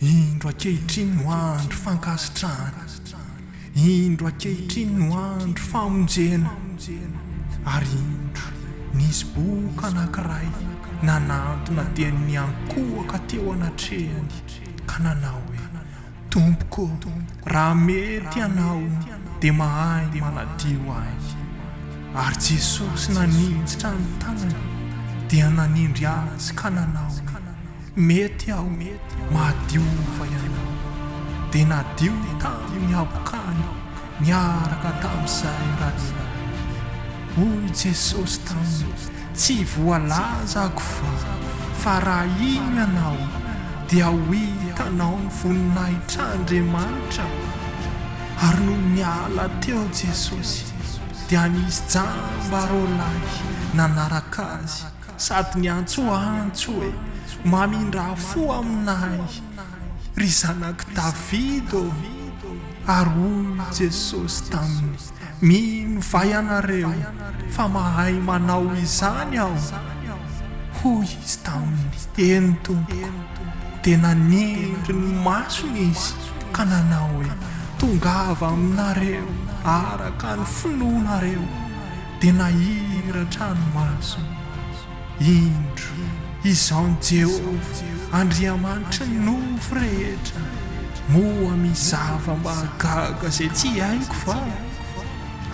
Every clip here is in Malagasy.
Indro ankehitriny no andro fankasitrahana, indro ankehitriny no andro famonjena, ary indro nisy boka anankiray nanantona dian'ny ankohoka teo anatrehany ka nanao hoe. Tompoko ô, raha mety Ianao dia mahay manadio ahy. Ary Jesosy naninjitra ny tanany dia nanindry azy ka nanao hoe, Mety aho, mahadiova ianao. Dia nadio tamin'ny habokany niaraka tamin'izay rariny. Hoy Jesosy taminy, Tsy voalaza akofa fa raha hino ianao dia ho hitanao ny voninahitr'Andriamanitra. Ary nony niala teo Jesosy dia nisy jamba roa lahy nanaraka Azy sady niantsoantso hoe, Mamindrà fo aminay, ry Zanak'i Davida ô! Ary hoy Jesosy taminy. Minovay ianareo fa mahay manao izany aho, hoy izy taminy. Eny, tompoko. Dia naniry ny masony izy ka nanao hoe, Tongava aminareo araka ny finoanareo. Dia nahiratra ny masony. Indro, izao ny Jehovah Andriamanitry ny nofo rehetra, Moa misy zava-mahagaga izay tsy haiko va?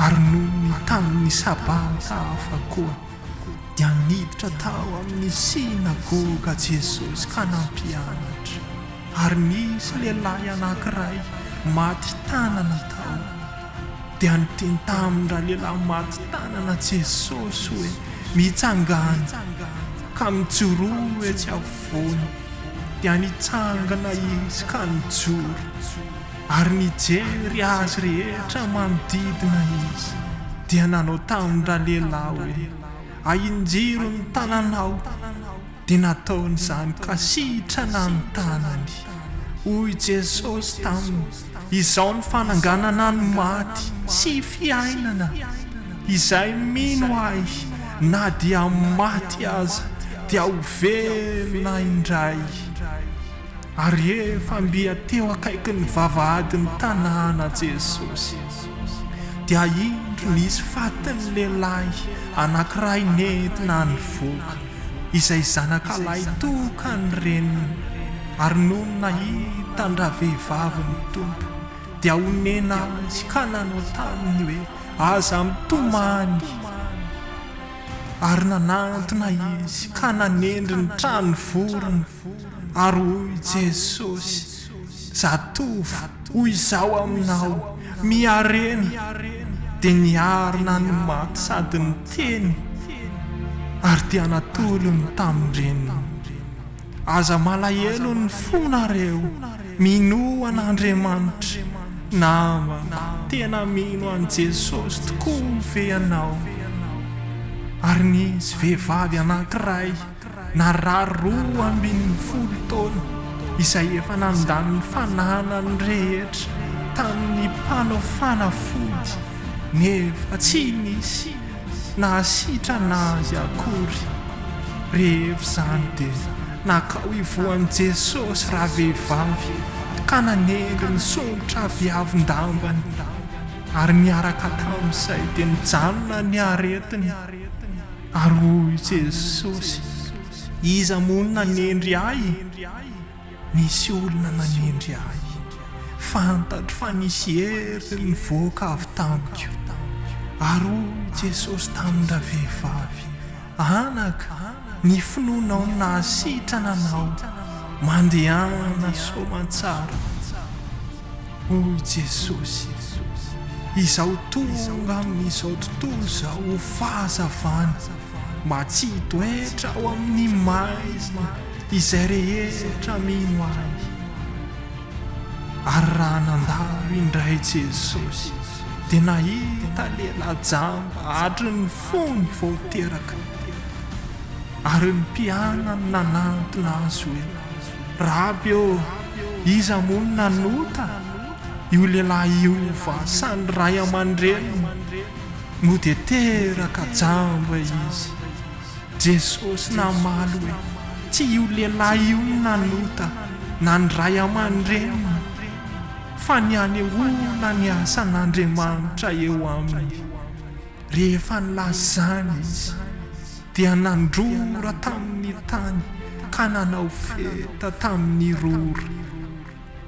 Ary noho ny tamin'ny Sabata hafa koa, dia niditra tao amin'ny synagoga Jesosy ka nampianatra, ary nisy lehilahy anankiray maty tanana tao. dia nitentamin'ny ralehilahy maty tanana Jesosy hoe mitsangàna, ka mijoroa etsy afovoany. Dia nitsangana Izy ka nijoro, ary nijery azy rehetra manodidina Izy, dia nanao tamin'ny ralehilahy hoe, Ahinjiro ny tananao. Dia nataony izany ka sitrana ny tanany. Hoy Jesosy taminy, Izao ny fananganana ny maty sy fiainana. Izay mino Ahy, na dia maty aza, dia ho velona indray. Ary rehefa mby teo akaikin'ny vavahadin'ny tanàna Jesosy, dia indro nisy fatin'ny lehilahy anankiray nentina nivoaka. izay zanakalahy toka ny reniny, ary nony nahita an-dravehivavy ny Tompo, dia honena azy ka nanao taminy hoe, Aza mitomany! Ary nanantona izy ka nanendry ny trano vorona. Ary hoy Jesosy, Zatovo, hoy Izaho aminao, miharena! Dia niarina ny maty sady niteny, ary dia natolony tamin-dreniny. Aza malahelo ny fonareo, minoa an'Andriamanitra, namako. Tena mino an'i Jesosy tokoa ve ianao? Ary nisy vehivavy anankiray. Narary roa ambin'ny folo taona izay efa nandany ny fananany rehetra tamin'ny mpanao fanafody nefa tsy nisy nahasitrana azy akory. Rehefa izany dia nankao hivohan'i Jesosy ravehivavy ka nanendy ny songotra viavin-dambany ary niaraka tamin'izay dia nijanona ny aretiny. Ary hoy Jesosy, Iza moa no nanendry Ahy? Nisy olona nanendry Ahy. Fantatro fa nisy hery nivoaka avy tamiko. Ary hoy Jesosy tamin-dravehivavy, Anaka, ny finoanao no nahasitrana anao. Mandehana soamantsara. Oh Jesosy, izaho tonga amin'izao tontolo izao ho fahazavana matsitoetra ao amin'ny maizina izay rehetra mino Ahy. Ary raha nandalo indray Jesosy dia nahita lehilahy jamba hatry ny fony vao teraka. Ary ny mpianany nanantona Azy hoe. Raby ô! Iza moa no nanota? Io lehilahy io va sa ny ray aman-dreniny no dia teraka jamba izy? Jesosy namaly hoe, Tsy io lehilahy io no nanota na ny ray aman-dreniny, fa ny hanehoana ny asan'Andriamanitra eo aminy. Rehefa nilaza izany izy. Dia nandrora tamin' ny tany ka nanao feta tamin' ny rora,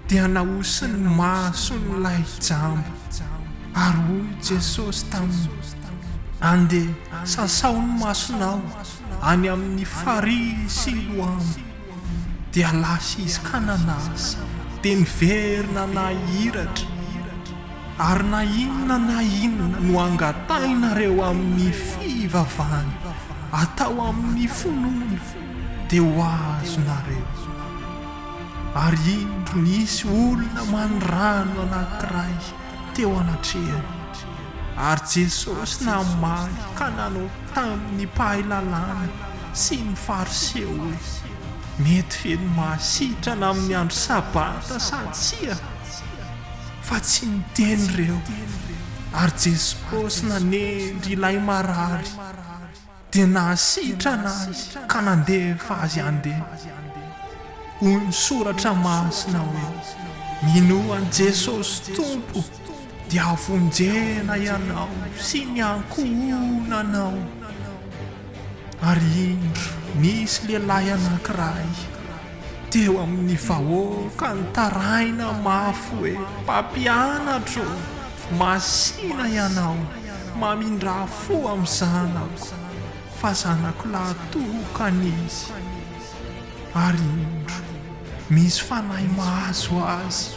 dia naosin' ny mason' ilay jamba, ary hoy Jesosy taminy, Andeha, sasao ny masonao any amin' ny farihy Siloama. Dia lasa izy ka nanasa, dia niverina nahiratra. Ary na inona na inona no angatahinareo amin'ny fivavahana, atao amin'ny finoana, dia ho azonareo. Ary indro nisy olona manirano anankiray teo anatrehany. Ary Jesosy namaly ka nanao tamin'ny mpahay lalàna sy ny Fariseo hoe, Mety ve ny mahasitrana amin'ny andro Sabata sa tsia? fa tsy niteny reo ary Jesosy nanendry ilay marary dia nahasitrana azy ka nandefa azy handeha. Hoy ny soratra masina hoe minoa an'i Jesosy Tompo dia havonjena ianao sy ny ankohonanao. ary indro nisy lehilahy anankiray teo amin'ny vahoaka nitaraina mafy hoe mpampianatra ô! Masina ianao mamindrà fo amin'ny zanako fa zanako lahy tokana izy, ary indro misy fanahy mahazo azy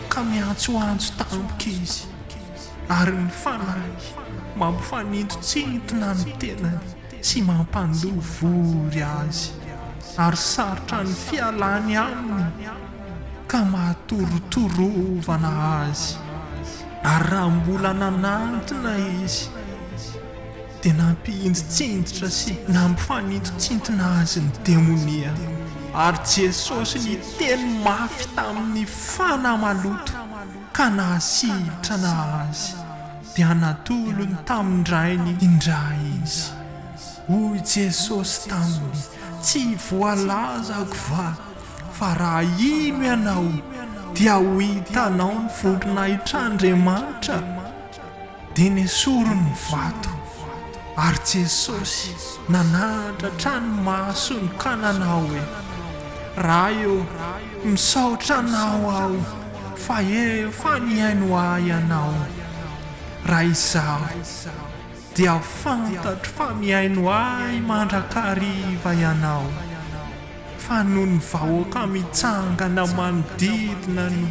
ka miantsoantso tampoka izy. ary ny fanahy mampifanintotsintona ny tenany sy mampandoa vory azy, ary sarotra ny fialany aminy ka mahatorotorovana azy. Ary raha mbola nanantona izy, dia nampihinditsinditra sy nampifanintotsintona azy ny demonia, ary Jesosy niteny mafy tamin'ny fanahy maloto. ka nahasitrana azy, dia natolony tamin-dRainy indray izy. Hoy Jesosy taminy, Tsy voalazako va fa raha hino ianao, dia ho hitanao ny voninahitr'Andriamanitra? Dia nesoriny ny vato, ary Jesosy nanahantra hatrany maso ny kanana hoe, Ray ô, misaotra Anao aho fa efa nihaino ahy Ianao. Raha izaho, dia fantatro fa mihaino ahy mandrakariva Ianao. fa noho ny vahoaka mitsangana manodidina no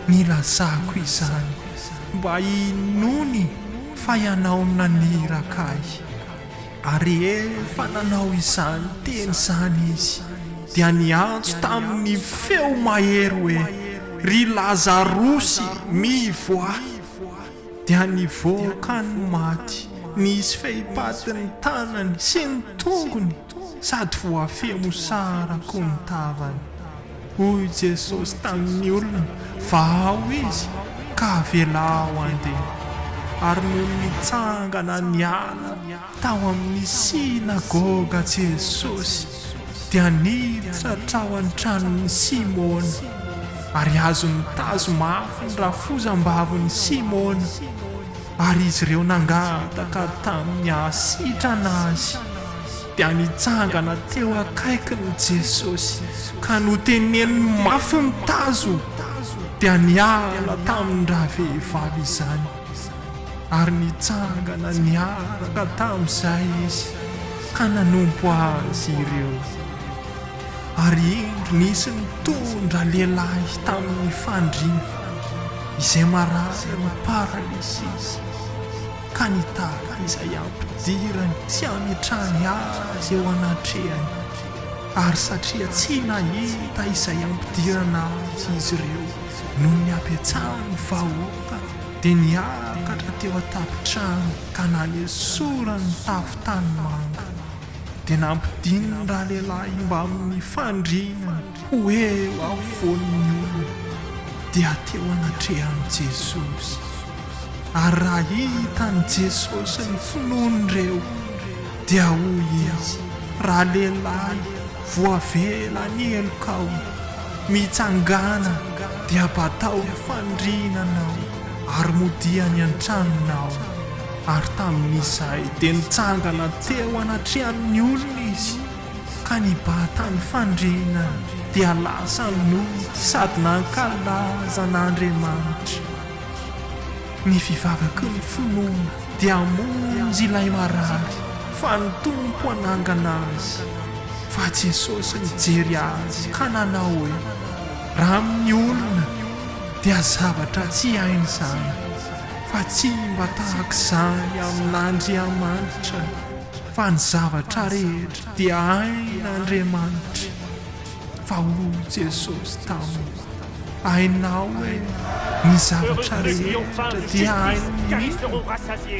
nilazako izany mba hinoany fa ianao no naniraka ahy. Ary rehefa nanao izany teny izany izy dia niantso tamin'ny feo mahery hoe, Ry Lazarosy, mivoaha! Dia nivoaka ny maty, nisy fehipaty ny tanany sy ny tongony. sady voafehy mosara koa ny tavany. Hoy Jesosy tamin'ny olona, Vahao izy, ka avelao handeha. Ary nony nitsangana niala tao amin'ny synagoga Jesosy, dia niditra hatrao an-tranon'i Simona, ary azony tazo mafy ny rafozam-bavin'i Simona. ary izy ireo nangataka tamin'ny hahasitrana azy, dia nitsangana teo akaikiny Jesosy ka noteneniny mafy mitazo, dia niala tamin-dravehivavy izany, ary nitsangana niaraka tamin'izay izy ka nanompo azy ireo. Ary indro nisy nitondra lehilahy tamin'ny fandriana, izay marary amin'ny paralysisy, ka nitady izay hampidirany sy hametrahany azy eo anatrehany, ary satria tsy nahita izay hampidirana azy izy ireo noho ny habetsahan'ny vahoaka, dia niakatra teo an-tampon-trano ka nanesorany ny tafo tanimanga. dia nampidininy ralehilahy mbamin'ny fandriana ho eo afovoan'ny olona, dia teo anatrehan'i Jesosy. Ary raha hitan'i Jesosy ny finoan'ireo, dia hoy Izy, Ralehilahy, voavela ny helokao. Mitsangàna, dia batao ny fandriananao, ary modia any an-tranonao. ary tamin'izay dia nitsangana teo anatrehan'ny olona izy ka nibata ny fandriana dia lasa nody sady nankalaza an'Andriamanitra. Ny fivavaky ny finoana dia hamonjy ilay marary fa ny Tompo hanangana azy fa Jesosy nijery azy ka nanao hoe, raha amin'ny olona dia zavatra tsy hainy izany. fa tsy mba tahak'izany amin'Andriamanitra fa ny zavatra rehetra dia hain'Andriamanitra fa hoy Jesosy taminy hainao hoe ny zavatra rehetra dia hain'ny